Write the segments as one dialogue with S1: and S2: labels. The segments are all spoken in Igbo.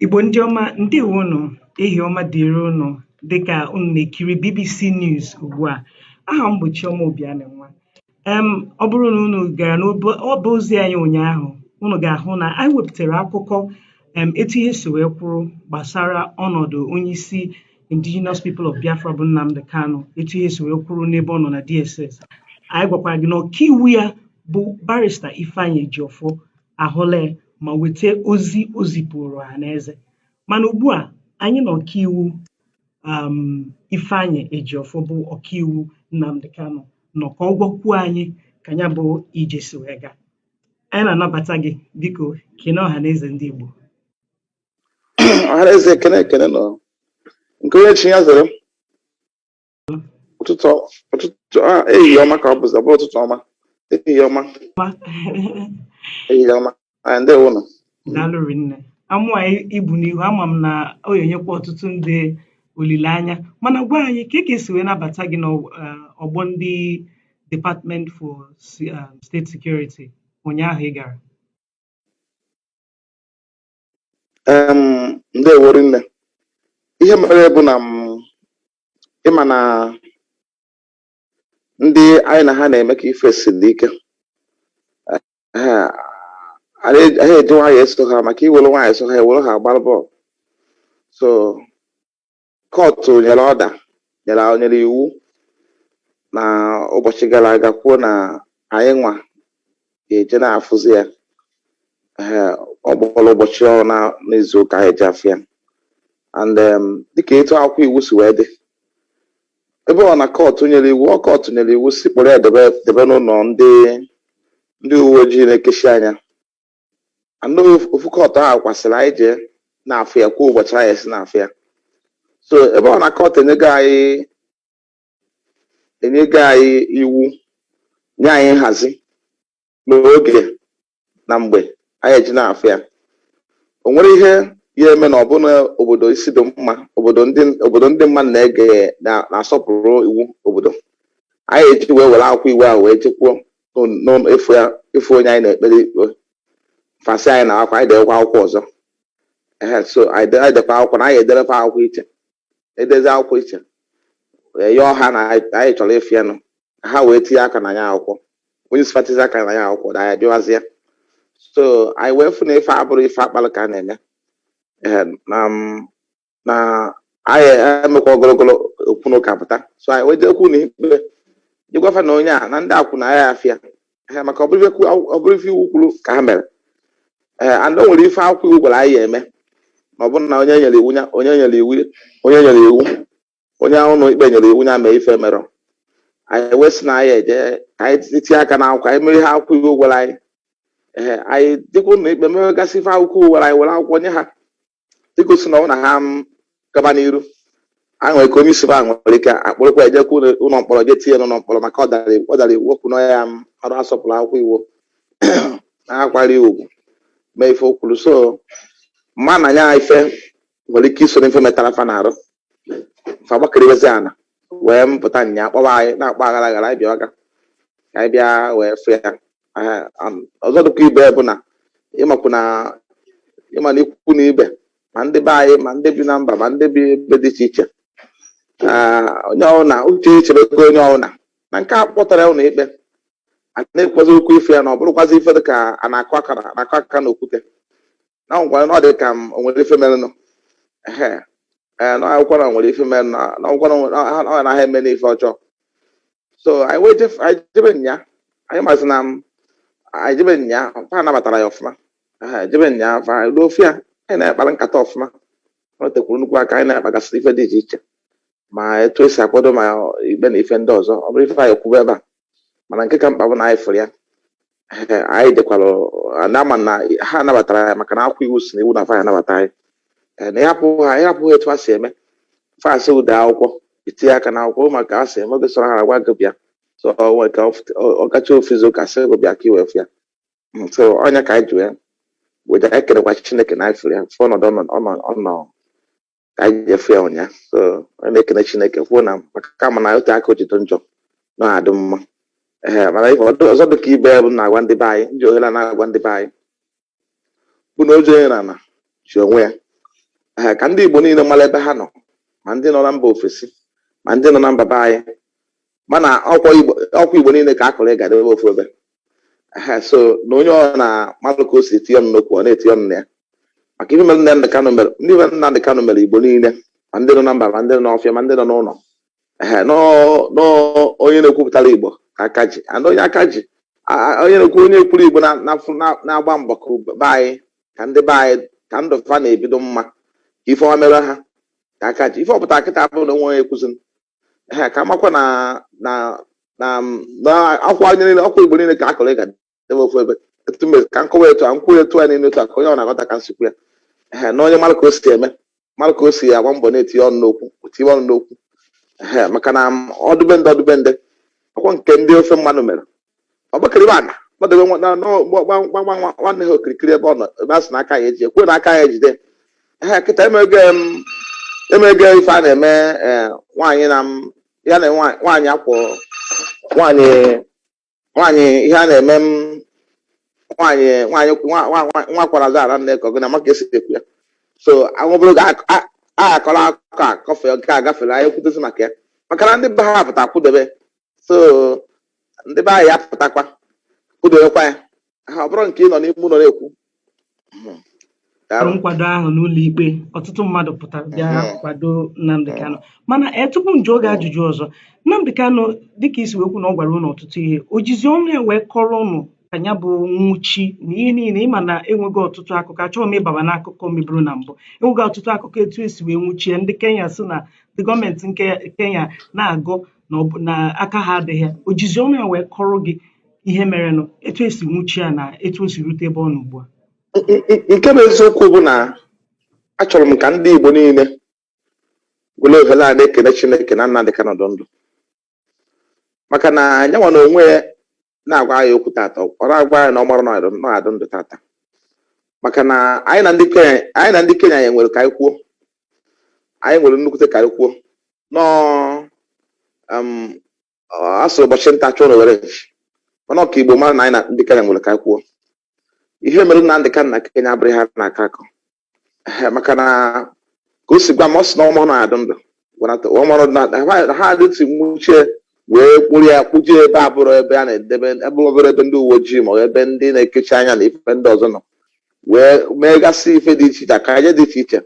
S1: Igbo ndị ọma ndewo nụ ehihie ọma dịrị ụnụ dịkà ụnụ na-ekiri BBC News ugbu a aha m bụ Chioma Obianinwa em ọ bụrụ na ụnụ gara n'obe ọba ozi anyị ụnyaahụ ụnụ ga-ahụ na anyị wepụtara akụkọ em etu ihe si wee kwụrụ gbasara ọnọdụ onyeisi indigenous people of Biafra bụ Nnamdi Kanu etu ihe si wee kwụrụ n'ebe ọ nọ na DSS anyị gwakwara gị na ọkaiwu ya bụ barista Ifeanyi Ejiofor ahụla ma weta ozi o zipụrụ ọha na eze mana ugbu a anyị na ọkaiwu um, Ifeanyi Ejiofor bụ ọkaiwu Nnamdi Kanu nọ ka ọ gwakwuo anyị ka ya bụ ije si wee gaa anyị na-anabata gị biko kene ọha na eze ndị Igbo
S2: ọha na eze ekene ekene nụ nke onye chi ya zere ụtụtụ ụtụtụ a ehihie ọma ka ọ bụzi ọ bụ ụtụtụ ọma ehihie ọma ehihie ọma anyị ndewo nụ daalụ rinne
S1: amụ anyị i bu n'ihu ama m na ọ ga-enyekwa ọtụtụ ndị olileanya mana gwa anyị ka ka e si wee nabata gị n'ọgbọ ndị Department for um, State Security ụnyaahụ ị gara
S2: em ndewo rinne ihe mere bụ na m ịma na ndị anyị na ha na-eme ka ife siri ike ha ha eji nwayọ eso ha maka i were nwayọ so ha ewere ha agbara bọọlụ so Kọtụ nyere ọda nyere nyere iwu na ụbọchị gara aga kwuo na anyị nwa ga-eje na-afụzi ya ee ugboro ụbọchị one n'izu ụka anyị ji afụ ya and um, dịka etu akwụkwọ iwu si wee dị ebe ọ na kọtụ nyere iwu ọ kọtụ nyere iwu sị kpọrọ ya debe debe n'ụlọ ndị ndị uwe ojii na-ekechi anya anụ ofu kọtụ ahụ kwa sịrị anyị jee na-afụ ya kwuo ụbọchị anyị esi na-afụ ya so ebe ọ na kọt enyego anyị enyego anyị iwu nye anyị nhazi n'oge na mgbe anyị eji na-afụ ya o nwere ihe ya-eme na ọ bụ na obodo isi dị mma obodo ndị obodo ndị mmadụ na-ege na- na-asọpụrụ iwu obodo anyị eji wee were akwụkwọ iwu ahụ wee jekwuo n'ụlọ ịfụ ya ịfụ onye anyị na-ekpere ikpe fa sị anyị nwa ka anyị dewekwa akwụkwọ ọzọ ehe so anyị de- anyị dekwa akwụkwọ na anyị ederekwa akwụkwọ iche edezi akwụkwọ iche wee yọọ ha na anyị anyị chọrọ ịfụ ya nụ ka ha wee tinye aka na ya akwụkwọ onye isi fa tizie aka na ya akwụkwọ na anyị bịawazi ya so anyị wee fụ na ife abụrụ ife a kpalụ ka a na-eme ehe na m na anyị emekwa ogologo okwu na ụka pụta so anyị wee jekwu ụlọ ikpe je gwa fa na onye a na ndị akwụ na ya afịa ha maka ọ bụrọ ife iwu kwuru ka ha mere ee and o nwere ife akwụkwọ iwu gwara anyị ya-eme na ọ bụrụ na onye nyere iwu ya onye nyere iwu onye nyere iwu onye ụlọ ikpe nyere iwu ya mee ife o merọ anyị wee sị na anyị eje ka anyị tinye aka n'akwụkwọ anyị mere ihe akwụkwọ iwu gwara anyị ee anyị jekwa ụlọ ikpe mewegasị ife akwụkwọ iwu gwara anyị were akwụkwọ nye ha igosi na ọ na ha gaba n'iru a nwere ike onye isi ha nwere ike akpụrụkwa ya jekwa ụlọ ụlọ mkpọrọ je tinye n'ụlọ mkpọrọ maka ọ dara iwu- ọ dara iwu okwu na ya amarọ asọpụrụ akwụkwọ iwu na akwari ugwu mee ife o kwuru so m ma na nya ife nwere ike iso n'ife metara fa n'arụ fa gbakeriwezi ana wee mpụta nya kpọwa anyị na-akpọ aghara aghara anyị bịa ọga ka anyị bịa wee fụ ya Aha, am, ọzọ dịkwa ibe bụ na ị makwa na ị ma na ikwu na ibe ma ndị be anyị ma ndị bi na mba ma ndị bi ebe dị iche iche Ah, onye ọbụla uche echebego onye ọbụla na nke a kpọtara ụlọ ikpe a na-ekwuzi okwu ife ya na ọ bụrụkwazi ife dị ka a na-akụ aka na- na-akụ aka na okwute na nkwara na ọ dị ka ma o nwere ife merenụ ehe ee na ọ bụkwa na nwere ife merenụ na na ọ bụkwa na nwere- na- ha- ọ naghị eme n'ife ọjọọ so anyị wee jef- anyị jebe nya anyị masị na m anyị jebe nya fa nabatara anyị ọfụma ehe jebe nya fa anyị ruo fụ ya anyị na-akpara nkata ọfụma ọ tekwuru nnukwu aka anyị na-akpagasị ife dị iche iche ma etu esi akwado ma ikpe na ife ndị ọzọ ọ bụrọ ife anyị kwube ebe a mana nke ka mkpa bụ na anyị fụrụ ya anyị dekwara na-ama na ha nabatara anyị maka na akwụkwọ iwu si na iwu na fa ya-anabata anyị Eh, na ịhapụ ha ịhapụ ha etu ha si eme fa sị i dee akwụkwọ itinye aka na akwụkwọ maka ha si eme oge sọrọ ha agwa gị bịa so o nwere ike ọf- ọ- ọ gacha ofu izu ụka sị gị bịa ka i wee fụ ya Mm, so ọ nya ka anyị ji wee wee na-ekelekwa chineke na anyị fụrụ ya fụ ọnọdụ ọ nọ- ọ nọ- ọ nọ ka anyị je fụ ya ụnya so anyị na-ekene chineke kwuo na maka kama na o tee aka o ji dị njọ na adị mma ee mana ife ọdụ- ọzọ dị ka ibe ya bụ na-agwa ndị be anyị m ji ohere a na-agwa ndị be anyị bụ na o ji onye n'ana ji onwe ya ee ka ndị igbo niile mara ebe ha nọ ma ndị nọ na mba ofesi ma ndị nọ na mba be anyị mana ọkwa igbo ọkwa igbo niile ka a kụrụ ịga debe ofu ebe Ehe, so na onye ọ na mmadụ ka o si etinye ọnụ n'okwu ọ na-etinye ọnụ na ya maka ihe mere Nnamdị Kanụ mere ndị mere Nnamdị Kanụ mere igbo niile ma ndị nọ na mba ma ndị nọ n'ọfịa ma ndị nọ n'ụlọ ehe nọ nọ onye na-ekwupụtara igbo ka aka ji and onye aka ji a- a- onye na-ekwu onye kwuru igbo na- na- na- na-agba mbọ ka ube- be anyị ka ndị be anyị ka ndụ fa na-ebi dị mma ka ife ọma mere ha ka aka ji ife ọ pụta kịta abụrụ na o nwee onye kwuziri ehe ka amakwa na na na na akwụkwọ anyị niile akwụkwọ igbo niile ka a kọrọ ịga ebe ofu ebe etu mbe ka nkọwa etu a nkwụ etu a niile etu a ka onye ọ na-aghọta ka m si kwu ya ehe na onye mara ka o si eme mara ka o si agba mbọ na-etinye ọnụ n'okwu tinye ọnụ n'okwu ehe maka na ọ dụ be ndị ọ dụ be ndị ọkwa nke ndị ofe mmanụ mere ọgbakịrịba ana gbadebe nwa- nwanne ha okirikiri ebe ọ nọ ebe a sị na aka ya eji ekwe na aka ya ejide ha kịta emego em, emego ife a na-eme eh, nwaanyị na m- ya na nwa- nwaanyị akwụ nwaanyị nwaanyị ihe a na-eme m nwaanyị nwaanyị nwa- nwa- nwa- nwa kwara aza ara nne ka ọ gị na ma ka e si ekwu ya so anwụbụrụ ga a akọrọ akụkọ a kọfe nke a gafere anyị kwutezi maka ya maka na ndị be ha pụta kwụdebe so ndị be anyị apụtakwa kwụdowekwa ya ha ọ bụrọ nke ị nọ n'ime ụlọ na-ekwu Hmm. Daalụ.
S1: nkwado ahụ n'ụlọ ikpe ọtụtụ mmadụ pụtara bịa Mhm. kwado Nnamdi Kanu mana ee tupu m jụọ gị ajụjụ ọzọ Nnamdi Kanu dịka i si wee kwu na ọ gwara ụnụ ọtụtụ ihe o jizi ọnụ ya wee kọrọ ụnụ ka ya bụ nwụchi na ihe niile ị ma na e nwego ọtụtụ akụkọ achọghị m ịbaba n'akụkọ meburu na mbụ e nwego ọtụtụ akụkọ etu e si wee nwụchie ndị Kenya sị na ndị gọọmenti nke Kenya na-agọ na ọ bụ na aka ha adịghị ya o jizi ọnụ ya wee kọrọ gị ihe merenụ etu e si nwụchi ya na etu o si rute ebe ọ nọ ugbu a N- n- n- nke
S2: bụ eziokwu bụ na achọrọ m ka ndị Igbo niile were ohere a na-ekene Chineke na Nnamdị Kanụ dị ndụ maka na nya nwa na onwe ya na-agwa anyị okwu tata ọ na-agwa anyị na ọ marọ na ọ ga-adụ ndụ tata maka na anyị na ndị Kenya anyị na ndị Kenya anyị nwere ka anyị kwuo anyị nwere nnukwute ka anyị kwuo nọọ um, a sịrị ụbọchị nta chụọ n'owere nchi mana ọ ka Igbo mara na anyị na ndị Kenya nwere ka anyị kwuo ihe mere Nnamdi Kanu na Kenya abụrọ ihe a na-akọ akọ Ehe, maka na ka o si gwa m ọ sị na ọ marọ na ọ ga-adị ndụ gwanata ọ marọ na ha- ha adịtị nwuchie wee kpụrụ ya kpụje ebe abụrọ ebe a na-edebe ebe obere ebe ndị uwe ojii ma ọ bụ ebe ndị na-ekechi anya na ife ndị ọzọ nọ wee megasị ife dị iche iche akaje dị iche iche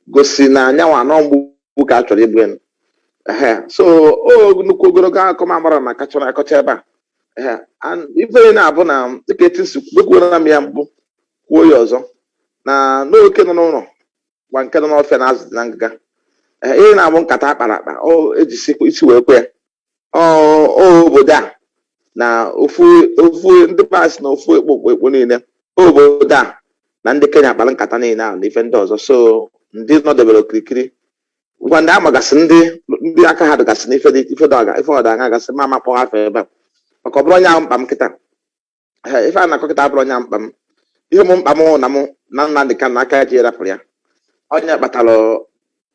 S2: gosi na nya nwa na ọ mgbu ka a chọrọ igbu enu ehe so ọ nnukwu ogologo akụkọ m amara na akọcha akọcha ebe a ehe and ife niile na-abụ na dịka etu si kwu ekwuola m ya mbụ kwuo ya ọzọ na na oke nọ n'ụlọ gwa nke nọ n'ọfịa na azụ dị na ngịga Ee, ihe na-abụ nkata a kpara akpa e jisi isi wee kwe ya ọ ọ obodo a na ofu ofu ndị pas na ofu ekpo ekpo ekpo niile ọ obodo a na ndị kenya kpara nkata niile ahụ na ife ndị ọzọ so ndị nọdebere okirikiri ngwa ndị a magasị ndị ndị aka ha dịgasị n'ife dị ife dị ọga ife ọda aga gasị m ama akpọ afa ebe a maka ọ bụrọ nya bụ mkpa m kịta Ee, ife a na-akọ kịta abụrụ onye mkpa m ihe m mkpa m na m na Nnamdị Kanụ aka ya ji erapụrụ ya ọ nya kpatara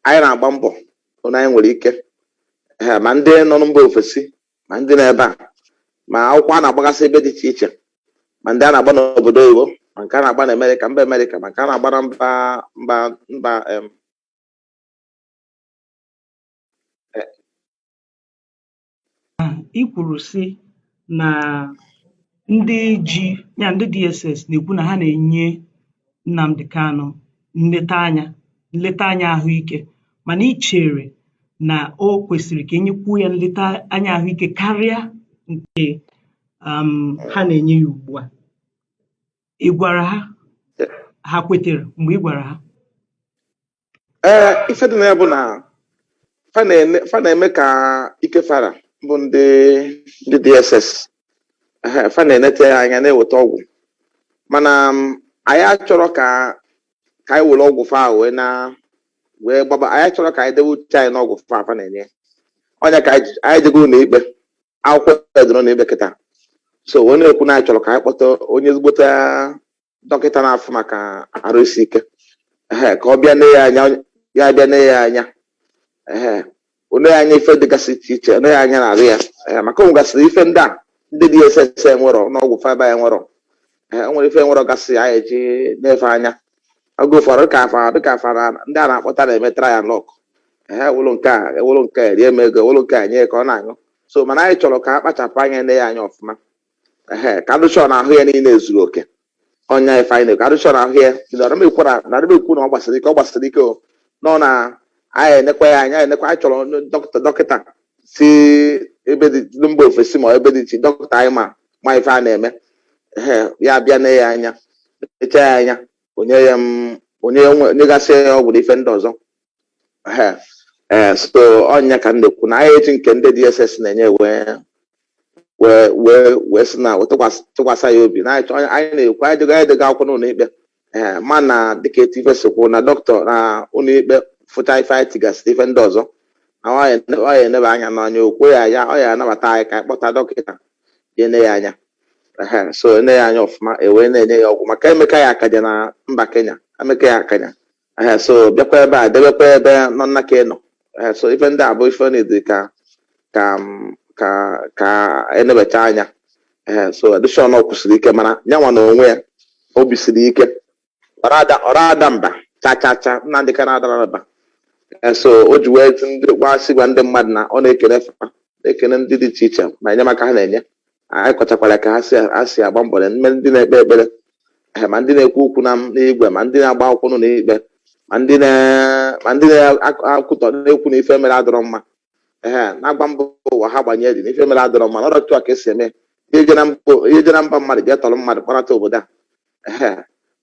S2: anyị na-agba mbọ hụ na anyị nwere ike Ee, ma ndị nọ na mba ofesi ma ndị nọ ebe a ma akwụkwọ a na-agbagasị ebe dị iche iche ma ndị a na-agba n'obodo oyibo ma nke a na-agba na amerịka mba amerịka ma nke a na-agba na mba mba mba em,
S1: i kwuru sị na ndị ji ya ndị DSS na-ekwu na ha na-enye Nnamdi Kanu nleta anya nleta anya ahụike mana ị chere na o kwesịrị ka e nyekwuo ya nleta anya ahụike karịa nke um, ha na-enye ya ugbu a ị gwara ha ha kwetere mgbe ị gwara ha
S2: ee ife dị na ya bụ na fa na-eme fa na-eme ka ike fa ra bụ ndị ndị dss ehe, fa na-enete ya anya na-eweta ọgwụ mana m, anyị achọrọ ka ka anyị were ọgwụ fa wee na wee gbaba anyị achọrọ ka anyị dewe uche anyị n'ọgwụ fa fa na-enye ọ nya ka anyị ji- anyị jego ụlọ ikpe akwụkwọ e doro na ikpe kịta so wee na-ekwu na anyị chọrọ ka anyị kpọta onye ezigbote dọkịta na-afụ maka arụ isi ike ehe ka ọ bịa nee ya anya ya bịa nee ya anya ehe o lee ya anya ife dịgasị iche iche o lee ya anya n'arụ ya ehe maka o nwegasịrị ife ndị a ndị dss enwerọ n'ọgwụ faba ya enwerọ ehe o nwere ife enwerọ gasị ya eji na-efe anya oge ụfọdụ dịka afa dịka afa na ndị a na-akpọta na-eme trial luck ehe e welụ nke a e welụ nke a erie m ego e welụ nke a nye ya ka ọ na-aṅụ so mana anyị chọrọ ka a kpachapụ anya nee ya anya ọfụma ehe ka a dị sure na ahụ ya niile ezuru oke ọ nya ife anyị na-ekwu a dị sure na ahụ ya adị m ekwu na adị m ekwu na ọ gbasirọ ike ọ gbasiri ike o nọ na anyị enekwa ya anyị enekwa anyị chọrọ onye dọkịta dọkịta si ebe dị ndị mba ofesi ma ebe dị iche dọkịta anyị ma ma ife a na-eme ehe ya bịa nee ya anya nechaa ya anya o nye ya m o nye ya nye- o nyegasị ya ọgwụ na ife ndị ọzọ Ehe. ee so ọ nya ka m na-ekwu na anyị eji nke ndị dss na-enye wee wee wee wee sị na tụkwasị tụkwasị ya obi na anyị chọ- anyị na-ekwu anyị tigo anyị tigo akwụkwọ n'ụlọ ikpe ee mana dịka etu ife si kwụ na dọkịta na ụlọ ikpe fụcha ife anyị tigasịrị ife ndị ọzọ na ọ ya ene- ọ ya enebe anya n'anya okwu ya ya ọ ya anabata anyị ka anyị kpọta dọkịta ya ene ya anya Ehe, so ene ya anya ọfụma e wee na-enye ya ọgwụ maka emeka ya akaja na mba Kenya emeka ya akaja ee so bịakwa ebe a debekwa ebe nọ nna ka ị nọ ee so ife ndị a bụ ife na-edi ka ka m- ka ka enebecha anya ee so condition ọ kwụsịrị ike mana ya nwa na onwe ya obi siri ike ọrọ ada ọrọ ada mba cha cha cha Nnamdị Kanụ adarọ mba Ee, so o ji wee tụ ndị gwa sị gwa ndị mmadụ na ọ na-ekene fa na-ekene ndị dị iche iche na enyemaka ha na-enye anyị kọchakwara ka ha si ha si agba mbọ na ma ndị na-ekpe ekpere eh, ma ndị na-ekwu okwu na n'igwe ma ndị na-agba akwụkwọ nọ n'ikpe ma ndị na- ma ndị na-ekwutọ na-ekwu na ife mere adịrọ mma ehe na-agba mbọ ụwa ha gbanye dị na ife mere adịrọ mma na ọrọ otu a ka esi eme ihe je na mba ihe je na mba mmadụ jee tọrọ mmadụ kpọnata obodo a ehe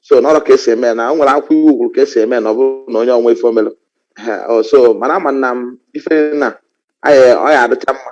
S2: so na ọrọ ka esi eme na o nwere akwụkwọ iwu kwuru ka esi eme na ọ bụrụ na onye ọnwa ife o melu ehe o, so mana amana m ife na anyị ọ ya adịcha mma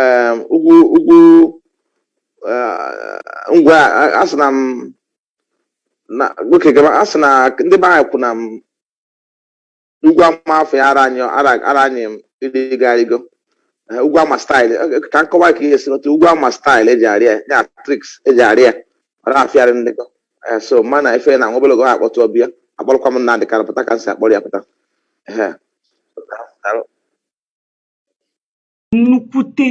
S2: em, ugwu ugwu eh, ngwa a- asị na m na oke gaba asị na ndị be anyị kwu na ugwu ama afịara anyị ịrịgo Eh, ugwu ama style Eh, ka m kọwa ka ihe si otu ugwu ama style eji arị ya ya tricks eji arị ya ọ na-afịarị ịrịgo Eh, so mana ife na nwa obere oge ha akpọtụ ọbịa akpọrọkwa Nnamdị Kanu pụta ka m si akpọrọ ya pụta Ehe.
S1: nnukwute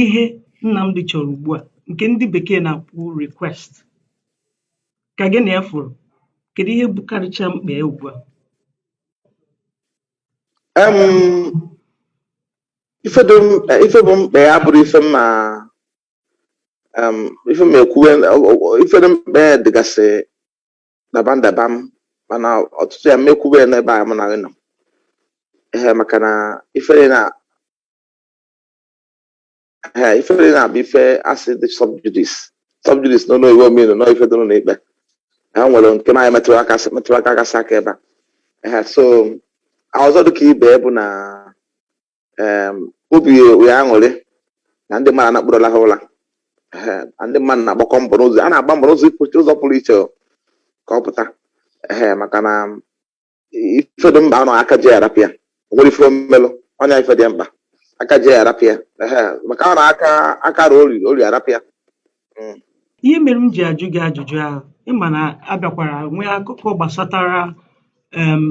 S1: ihe Nnamdi chọrọ ugbu a nke ndị bekee na-akpọ request ka gị na ya fụrụ kedu ihe bụkarịcha mkpa ya ugbu a
S2: ife bụ mkpa ya abụrọ ife ma ife ma ekwuwe ife dị mkpa ya dịgasị daba ndaba m mana ọtụtụ ya m ma ekwube ya n'ebe a mụ na gị nọ ee maka na ị fụrụ na ee ị fụrụ na ọ bụ ife asị dị subjudice subjudice n'ụlọ iwu ọ mean na ọ ife dị n'ikpe ha nwere nke anyị metụrụ aka metụrụ aka gasị aka ebe a ee so ọzọ dịka ibe ya bụ na em, obi ya aṅụrị na ndị mmadụ anakpụrụla ha ụla Ehe, na ndị mmadụ na-agbakọ mbọ n'ụzọ a na-agba mbọ n'ụzọ ịpụ- ụzọ pụrụ iche ka ọ pụta ehe maka na ife dị mkpa anọ aka ji arapụ ya o nwere ife mmelụ ọnya ife dị mkpa aka ji arapụ ya ehe maka ọ na aka aka ruo ori ori arapụ ya
S1: Mm. ihe mere m ji ajụ gị ajụjụ ahụ ịma na abịakwara nwee akụkọ gbasatara em,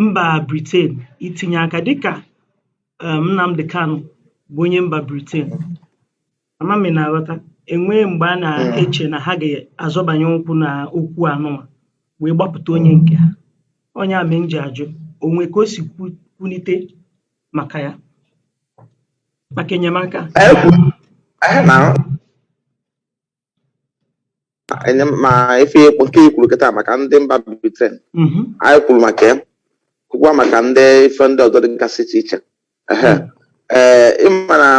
S1: mba Britain itinye aka dịka em, Nnamdị Kanụ bụ onye mba Britain ama m ị na-aghọta enwee mgbe a na-eche na ha ga-azọbanye ụkwụ na okwu anụnwa wee gbapụta onye nke ha ọ ya mee m ji ajụ o nwe ka o si kwu- kwulite maka ya
S2: maka enyemaka ma ife nke i kwuru kịta maka ndị mba Britain mhm. anyị kwuru maka ya kwukwa maka ndị ife ndị ọzọ dịgasị iche iche ee ịmara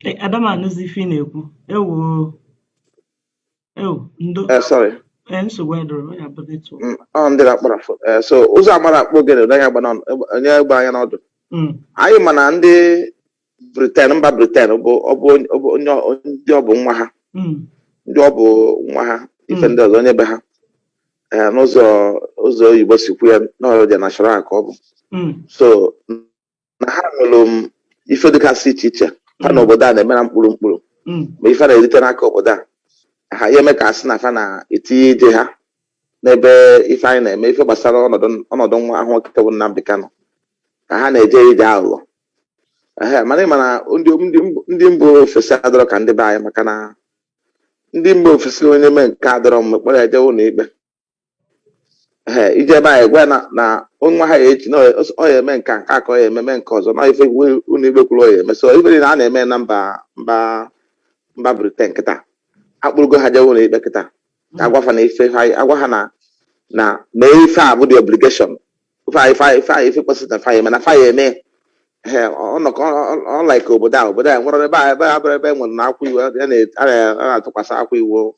S1: Eh, Ada m anụzi ife ị na-ekwu. Ewo, ewo, ndo, Eh, sorry.
S2: eh, nsogbu
S1: adịrọ, ọ ya bụ netwọk. Mm, ọ ndị na-akpara fo-
S2: eh, so ụzụ amarọ akpụ ogene ụdọ anya gbara ọnụ- egbe- o nee egbe anya n'ọdụ Mm, anyị ma na ndị briten mba briten bụ ọ bụ onye- ọ bụ onye ọ- ndị ọ bụ nwa ha mm, ndị ọ bụ nwa ha ife mm, ndị ọzọ onye be ha eh, n'ụzọ ụzọ oyibo si kwu ya na ọ their national ka ọ bụ mm, so na ha nwere ife dịgasị iche iche ha na obodo a na-eme na mkpụrụ mkpụrụ Mm. ma ife ha na-erite n'aka obodo a ha ya eme ka asị na fa na-etinye ije ha n'ebe ife anyị na-eme ife gbasara ọnọdụ ọnọdụ nwa ahụ nwoke bụ Nnamdi Kanu ka ha na-eje ije aghụghọ ehe mana ị ma na ndị ndị mb- ndị mba ofesi adịrọ ka ndị be anyị maka na ndị mba ofesi onye mee nke adịrọ mma a kpọrọ ya jee ụlọ ikpe Ee, ije ebe anyị gwa na na nwa ha echi na ọ- ọ ya eme nke a, nke a ka ọ ya ememe nke ọzọ na ife iwu- ụlọ ikpe kwuru ọ ya eme so ife niile a na-eme na mba mba mba briten kịta akpụrụgo ha jewe ụlọ ikpe kịta ka agwa fa na ife ha agwa ha na na mee ife a bụ the obligation fa ya fa ya fa ya ife kwesịrị na fa ya eme na fa ya eme ee ọnọkọ unlike obodo a obodo a nwere ebe a ebe a bụrụ ebe e nwere na akwụkwọ iwu a na- a na- a na-atụkwasị akwụkwọ iwu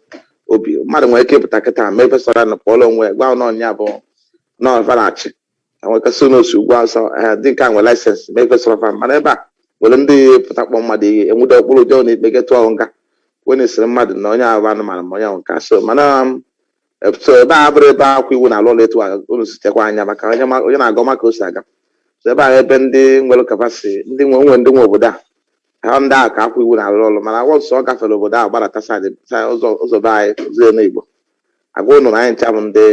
S2: obi mmadụ nwere ike ịpụta kịta mee ife sọrọ ya na pụọla onwe ya, gwa na ọ ya bụ na ọ fa na-achị enwekasị na o si ugwu awụsa ee ndị nke a nwere laịsensị mee ife sọrọ fa mana ebe a nwere ndị pụta kpọ mmadụ ihe enwude ọ kpụrụ jee na ikpe jee tụọ nga onye sịrị mmadụ na onye ahụ bụ anụmanụ ma onye ahụ nke asị mana um, so ebe a bụrụ ebe akwụkwọ iwu na-alụ ọrụ etu a unu sitekwa anya maka onye ma- onye na-agụ ma ka o si aga so ebe a ebe ndị nwere kapasiti ndị nwe onwe ndị nwe obodo a ha ndị a ka akwụkwọ iwu na-alụ ọrụ mana akwụkwọ nsọ ọ gafere obodo a gbadata saịdị saịdị ụzọ ụzọ be anyị ụzọ enu igbo agwa unu na anyị ncha bụ ndị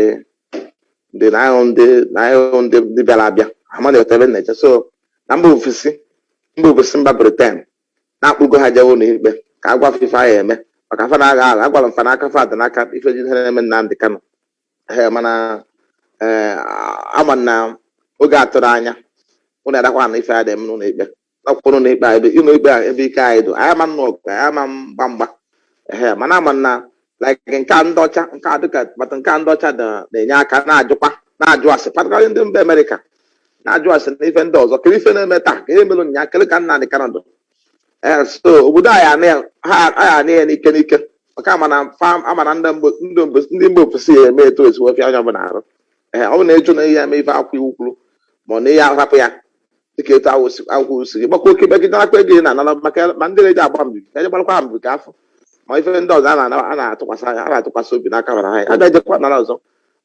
S2: ndị na anyị bụ ndị na anyị bụ ndị ndị bịara abịa ama na-ete ebe na-eche so na mba ofesi mba ofesi mba briten na akpụgo ha jewe ụlọikpe ka a gwa fa ife fa ya eme maka fa na-agha agha a gwara fa na aka fa dị n'aka ife ji ihe na-eme Nnamdị Kanụ ee mana ee ama na oge atụrụ anya ụnụ adakwa na ife a dị eme n'ụlọ ikpe n'ọkpụkpọ n'ụlọ ikpe a ebe ụlọ ikpe a ebe ike anyị dụ anyị ama anụ ọgụ anyị ama agba mgba ee mana ama na like nke a ndị ọcha nke a dịka but nke a ndị ọcha na- na-enye aka na-ajụkwa na-ajụ asị particularly ndị mba amerịka na-ajụ asị na ife ndị ọzọ kere ife na-eme taa ka ihe mere ụnyaahụ kere ka Nnamdi Kanu dị ee so obodo anyị anị ya- ha anyị anị ya n'ike n'ike maka ama na fam ama na ndị mba- ndị mba- ndị mba ofesi ya eme etu o si wee fịa onye ọbụla arụ ee ọ bụ na ịjụ na ị ya eme ife akwụkwọ iwu kwuru ma ọ na ị ya ahapụ ya dịka etu ahụ si- akwụkwọ si gị gbakwa oke megide akwa ego ị na-anara maka ya- ma ndị na-eji agba mbibi eje gbarakwa ha mbibi ka afọ ma ife ndị ọzọ a na-ana- a na-atụkwasị anya a na-atụkwasị obi n'aka bara ha a ga-ejekwa nara ọzọ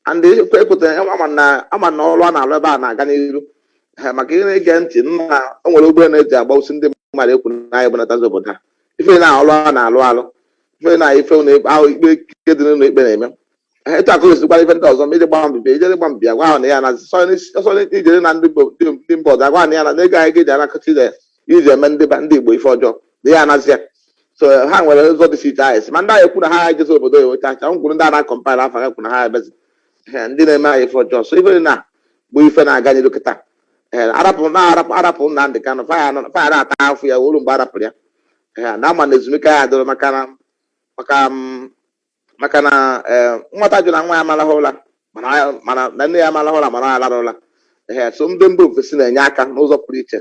S2: and ekwe ekweta ama na ama na ọrụ a na-arụ ebe a na-aga n'iru ha maka ị na-ege ntị na o nwere ụgbọ a na-eji agbagbusi ndị mmadụ ekwu na anyị bunatazi obodo ha ife na ọrụ a na-alụ alụ ife na ife na ahụ ikpe ike dị n'ụlọ ikpe na-eme Ee, etu akụ esikwara ife ndị ọzọ ma ije gba mbibi ijere gba mbibi agwa ha na ya na sọ ijere na ndị Igbo- ndị- ndị mba ọzọ agwa ha na ya na na ego anyị ga-eji anakọta ije iji eme ndị ba- ndị Igbo ife ọjọọ na ya anazi ya so ha nwere ụzọ dị iche anyị si ma ndị anyị ekwu na ha ejezi obodo ya weta acha ngwuru ndị a na-akọmpaịl afa ha ekwu na ha ebezi Ee, ndị na-eme anyị ife ọjọọ so ife dị na bụ ife na-aga n'iru kịta Ee, arapụ na arapụ arapụ Nnamdị Kanụ fa ya nọ- fa ya na-ata afụfụ ya wee luo mgbe arapụrụ ya Ee, na ama na ezumike ya adịrọ maka na maka m, maka na eh, nwata jụ na nwa ya ama alahụ ụla mana ya- mana na nne ya ama alahụ ụla mana ọ alara ụla ee so ndị mba ofesi na-enye aka n'ụzọ pụrụ iche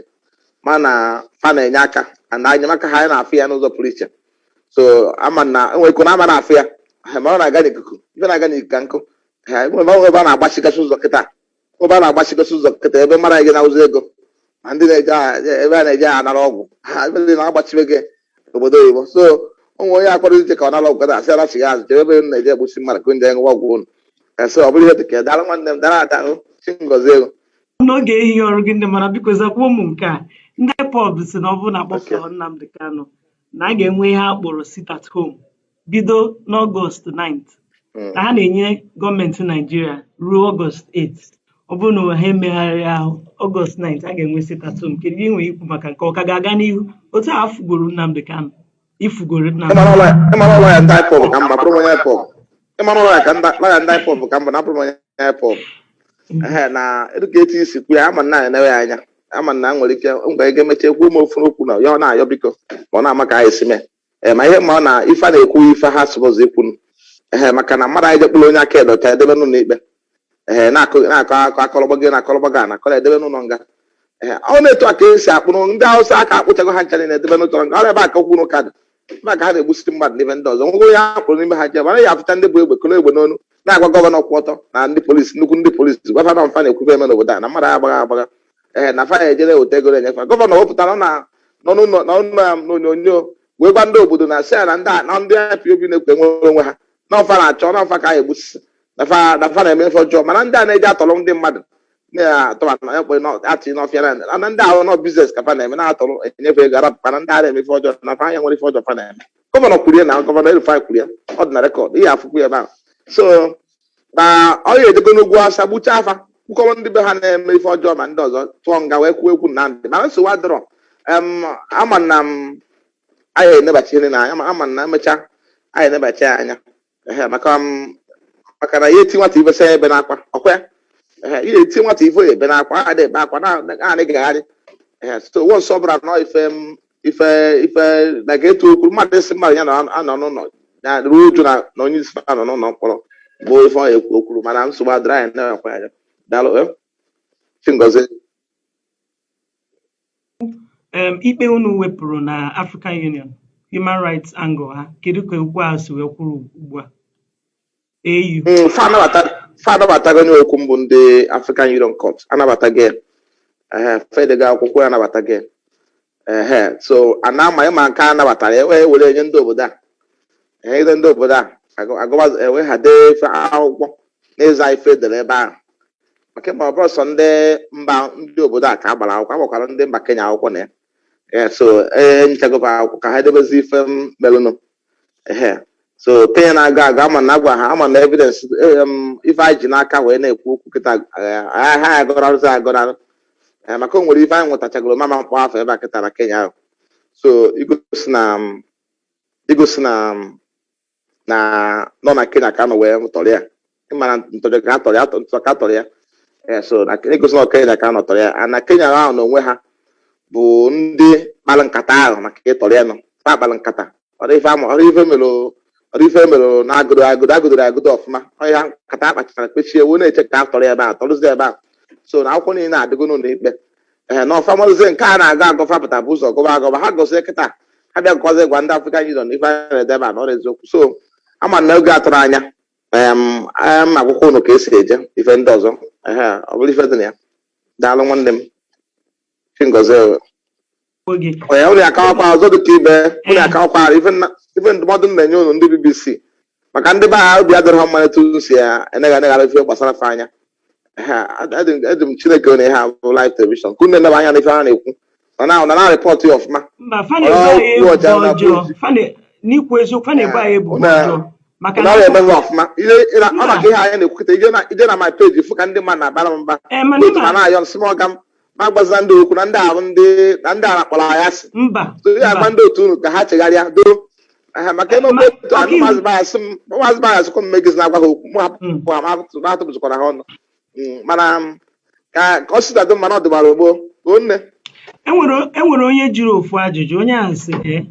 S2: mana fa na-enye aka na enyemaka ha anyị na-afụ ya n'ụzọ pụrụ iche so ama na enwere ike na ama na-afụ ya eh, ma ọ na-aga n'ikuku ife na-aga n'ikuku ka nkụ eh, enwere ebe a na-agbachigasị ụzọ kịta ebe a na-agbachigasị ụzọ kịta ebe mara gị na-awụzi ego ma ndị na-eje a- ebe a na-eje anara ọgwụ ha ebe ndị na-agbachibe gị obodo oyibo so ọ bụ onye a kpọrọ ije ka ọ nara ọgwụ gada asị ya lachigha azụ jebe ebe unu na-eje egbusi mmadụ ka ndị ṅụwa ọgwụ unu ese ọ bụrụ ihe dị ka ya, daalụ nwanne m daalụ ada hụ chi ngozi ego n'oge
S1: ehihie ọrụ gị dị mma biko zakwuo m nke a ndị IPOB sị na ọ bụrụ na akpọpụtaghị Nnamdi Kanu na a ga-enwe ihe a kpọrọ sit at home bido n'ọgọst 9th hmm. na ha na-enye gọọmenti naijiria ruo ọgọst 8th ọ bụrụ na ha emeghị ihe ahụ ọgọst 9th a ga-enwe sit at home kedu ihe i nwere ikwu maka nke a ọ ka ga-aga n'ihu otu a fugoro Nnamdi Kanu ifugoro
S2: Nnamdi Kanu ka mba na abụrụ onye IPOB hmm. na dịka etu i si kwuo ya ama na enewe ya anya ama na nwere ike mgbe ga-emecha e kwuo m ofu okwu na ya ọ na-ayọ biko ma ọ na-ama ka anyị si mee ee ma ihe ma ọ na ife a na-ekwu ife ha sụbụzụ ikwu ee maka na mmadụ anyị je kpụrụ onye aka ya dị ọcha edebe n'ụlọ ikpe ee na-akụ na-akọ akọ akọrọgba gị na akọrọgba gị na akọrọ edebe n'ụlọ nga ee ọ na etu a ka esi akpụrụ ndị awụsa a ka-akpụchago ha ncha niile edebe n'ụlọ nga ọ ebe a ka okwu na ụka dị ebe a ka ha na-egbusiri mmadụ n'ebe ndị ọzọ nwego onye ha kpụrụ n'ime ha jebe anaghị afụcha ndị bu egbe kolo egbe n'onu na-agwa gọvanọ kwụ ọtọ na ndị polisi nnukwu ndị polisi gwafa na ọ fa na-ekwu ife eme n'obodo a na mmadụ agbaghaghị agbagha ee na fa ejere weta ego enye fa gọvanọ wepụtara na n'ọnụ ụlọ na ụlọ ya n'onyonyo wee gwa ndị obodo na sị ya na ndị a- na ndị IPOB na-ekwu inwere onwe ha na ọ fa na-achọ na ọ fa ka a ya-egbusisi na fa na fa na-eme ife ọjọọ mana ndị a na-eje atọrọ ndị mmadụ na-atọba na ekpe na atị n'ọfịa na na ndị ahụ na ọ biznes ka fa na-eme na-atọrọ enye fa ego arapụ mana ndị a na-eme ife ọjọọ na fa enwerọ ife ọjọọ fa na-eme gọvanọ kwuru ya na gọvanọ El-Rufai kwuru ya ọ dị na rekọd ị ya-afụkwu ya na so na ọ ya edego n'ugwu awụsa gbuchaa fa kwukọrọ ndị be ha na-eme ife ọjọọ ma ndị ọzọ tụọ nga wee kwuo ekwu na ndị mana nsogbu adịrọ em, ama m na anyị enebachi ihe na anya ma ama na emechaa anyị enebachi ya anya ehe maka m maka na ya eti nwata ife sị ya ebena akwa ọkwa ya ehe ị na-eti nwata ife ya ebena akwa a na-ebe akwa na- na- na-agagharị ehe so once ọ bụrụ na ife m ife ife na ka etu okwu mmadụ isi mmadụ ya na anọ n'ụlọ na-eru uju na na onye isi ya nọ n'ụlọ mkpọrọ bụ ife ọ ekwu okwuru mana nsogbu adịrọ anyị na-ekwe anya daalụ eh? chi
S1: ngozi um, ikpe unu wepụrụ na African Union human rights angle ha kedu ka okwu a si wee kwụrụ ugbu a
S2: Mm, fa anabatago onye okwu mbụ ndị African Union Court anabatago ya fa edego akwụkwọ ya anabatago ehe so a na-ama ịma nke a nabatara e wee were enye ndị obodo a enyegide ndị obodo a eweghade ife akwụkwọ n'ịza ife edere ebe ahụ maka ị ma ọ bụrọ sọ ndị mba ndị obodo a ka a gbara akwụkwọ agbakwara ndị mba Kenya akwụkwọ na ya so enyechago fa akwụkwọ ka ha edebezi ife melụnụ ehe so kenya na-agọ agọ ama na agwa ha ama na evidence eh, um, ife anyị ji n'aka wee na-ekwu okwu kịta eh, ha ha agọrarụzi agọrarụ Eh, maka o nwere ife anyị nwetachagoro m ama akpọ afa ebe a kịta na kenya ahụ so igosi na um, igosi na um, na ọ na kenya ka a nọ wee tọrọ ya ị mara ntọrọ ka atọrọ ya ntọ ka atọrọ ya ee so na egosi na kenya ka a nọ tọrọ ya a na kenya ahụ na onwe ha bụ ndị kpara nkata ahụ maka ịtọrọ ya na ọ fa kpara nkata ọrọ ife ama ọrọ ife mere ọrọ ife mere na agụdoro agụdo agụdoro agụdo ọfụma ọrụ ya nkata a kpachara kpechie wee na-eche ka atọrọ ya ebe ahụ tọrọzie ebe ahụ so na akwụkwọ niile adịgo n'ụlọ ikpe ee na ọ fa marazie nke a na-agọ agọ fa pụta bụ ụzọ gọba agọba ha gọzie kịta ha bịa gọzie gwa ndị African Union ife a na-ede ebe a na ọrọ eziokwu so ama na oge atụrụ anya em em akwụkwọ unu ka esi eje ife ndị ọzọ ehe ọ bụrụ ife dị na ya daalụ nwanne m chi ngozi o. Gbuo gị. onye ụlọ ya kawakwa ọzọ dị ka ibe ụlọ ya kawakwa ife nna- ife ndụmọdụ m na-enye unu ndị bbc maka ndị be ha obi adịrọ ha mma etu unu si ya enegha eneghara ife gbasara fa anya eji m chineke ọ na ihe a bụ live television ka unu na-eneba anya n'ife ha na-ekwu na na report ya ọfụma n'ikwu eziokwu fa na-ebo anyị ebubo ọjọọ
S1: maka na ọ na-eme
S2: ọfụma ọ maka ihe anyị na-ekwu kịta i je na my page fụ ka ndị mmadụ na-abara m mba eh, na-ayọ nsị m ọga m na-agwazi ndị okwu na ndị ahụ ndị na ndị a kpọrọ ya asị mba so ya agwa ndị otu unu ka ha chegharịa doo Aha, maka ebe Ma- otu ọkaiwu- maazị bayasị m maazị bayasị kwa mmegị na-agwa ha okwu mụ Mm. hapụ ha ma hapụ- ma hapụzụkwara ha ọnụ Mm, mana m, ka ka ọ sida dị mma na ọ dịbara ogbo o nne
S1: enwere enwere onye jụrụ ofu ajụjụ onye ahụ sị ee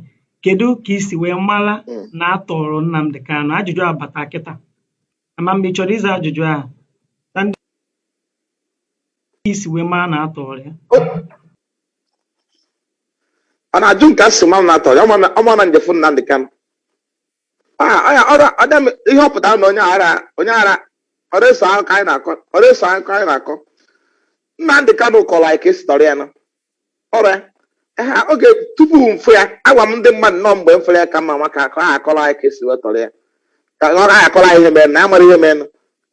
S1: kedu ka i si wee mara Mm. na a tọrọ Nnamdi Kanu ajụjụ abata kịta ama m ma ị
S2: chọrọ ịza ajụjụ ahụ ka i si wee mara na atọrọ ya ọ na-ajụ m ka m si mara na atọrọ ya ọ ma na m je fụ Nnamdị Kanụ Ah, ọ ya ọrụ ọdịm ihe ọ pụtara na onye ara onye ara ọrụ eso ahụ ka anyị na-akọ ọrụ eso ahụ ka anyị na-akọ Nnamdị Kanụ kọrọ anyị ka esi tọrọ ya nọ ọra ha oge tupu m fụ ya agwa m ndị mmadụ nọ mgbe m fụrụ ya ka m ma maka akọ ha akọrọ anyị ka esi wetọrọ ya ka ọ na akọrọ anyị ihe mere na amara ihe mere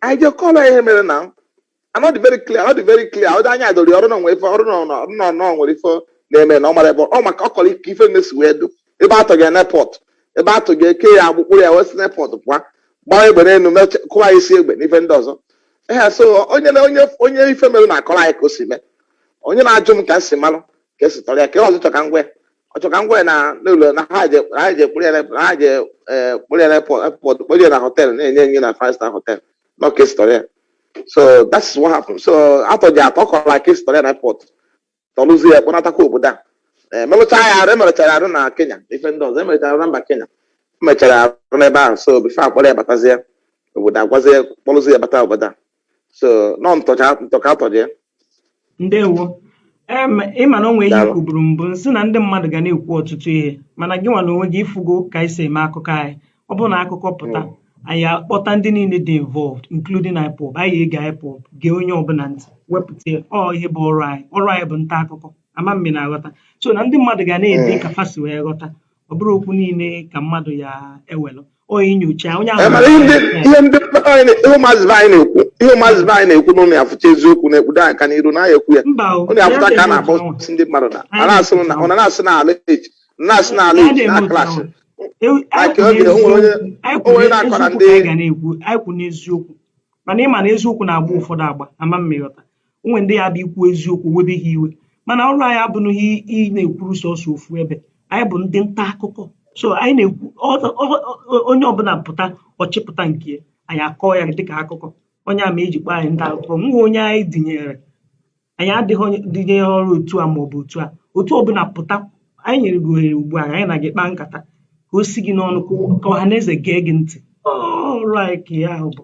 S2: anyị je kọrọ ya ihe mere na anọ dị very clear ọ dị very clear ọ dị anya dori ọrụ na onwe ife ọrụ na ọrụ na ọnọ nwere ife na-eme na ọ mara ebe ọ maka ọ kọrọ ike ife na-esi wee du ebe atọ ga n'airport ebe atọ ga eke ya agbụ kpụ ya wee si n'airport pụa gbaa egbe n'elu meche- kụwa ya isi egbe n'ife ndị ọzọ ehe so onye na onye onye ife mere na-akọrọ anyị ka o si mee onye na-ajụ m ka m si malụ ka esi tọrọ ya ka ọ chọ ka m gwa ya ọ chọ ka m gwa ya na n'ụlọ na ha je na ha je kpụrụ ya na na ha je eh, kpụrụ ya na airport kpụrụ ya na hotel na-enye nye na five star hotel na ka esi tọrọ ya so that is what happened so atọ ji atọ kọrọ na ka esi tọrọ ya na airport tọrụzie ya kpọnatakwa obodo a Eh, melụcha ya arụ emerechara arụ na Kenya ife ndị ọzọ emerechara arụ na mba Kenya emechara arụ n'ebe ahụ so before akpọrọ ya batazie obodo agwazie kpọrụzie ya bata obodo a so nọ ntọcha ntọ ka atọ ya
S1: ndewo em ịma na o nwee ihe Daalụ. kwuburu mbụ m sị na ndị mmadụ ga na-ekwu ọtụtụ ihe mana gị nwa na onwe gị ịfụgo ka anyị si eme akụkọ anyị ọ bụrụ na akụkọ pụta anyị akpọta ndị niile dị involved including IPOB anyị ege IPOB gee onye ọbụla ntị wepụta ya. ọ ihe bụ ọrụ anyị ọrụ anyị bụ nta akụkọ ama m ma ị na-aghọta so na ndị mmadụ ga na-ede Mm. ka fa si wee ghọta ọ bụrọ okwu niile ka mmadụ ya ewelụ
S2: onye
S1: nyocha onye
S2: ahụ
S1: ihe ndị
S2: ụmụazị be anyị
S1: na-ekwu ihe
S2: ụmụazị be anyị na-ekwu na ụnụ ya fụcha eziokwu na-ekpudo anyị aka n'iru na ya ekwu ya ụnụ ya fụta ka a na-akpọ ndị mmadụ na a na-asị na ụnụ na-asị na alleged na-asị na alleged na clash onye na-akọ na ndị anyị kwụ
S1: n'eziokwu mana ịma na eziokwu na-agba ụfọdụ agba ama m ma ị ghọta o nwe ndị ya-abụ ikwu eziokwu webe ha iwe mana ọrụ anyị abụghị ị na-ekwuru sọsọ ofu ebe anyị bụ ndị nta akụkọ so anyị na-ekwu onye ọbụla pụta ọ chịpụta nke ya anyị akọọ ya dịka akụkọ ọ ya mere eji kpọọ anyị nta akụkọ enweghị onye anyị dịnyere anyị adịghị dịnyere otu a maọbụ otu a otu ọbụla pụta anyị nyere gị ohere ugbu a anyị na gị kpaa nkata ka o si gị n'ọnụ ka ọha na eze gee gị ntị ọrụ anyị ka ya ahụ bụ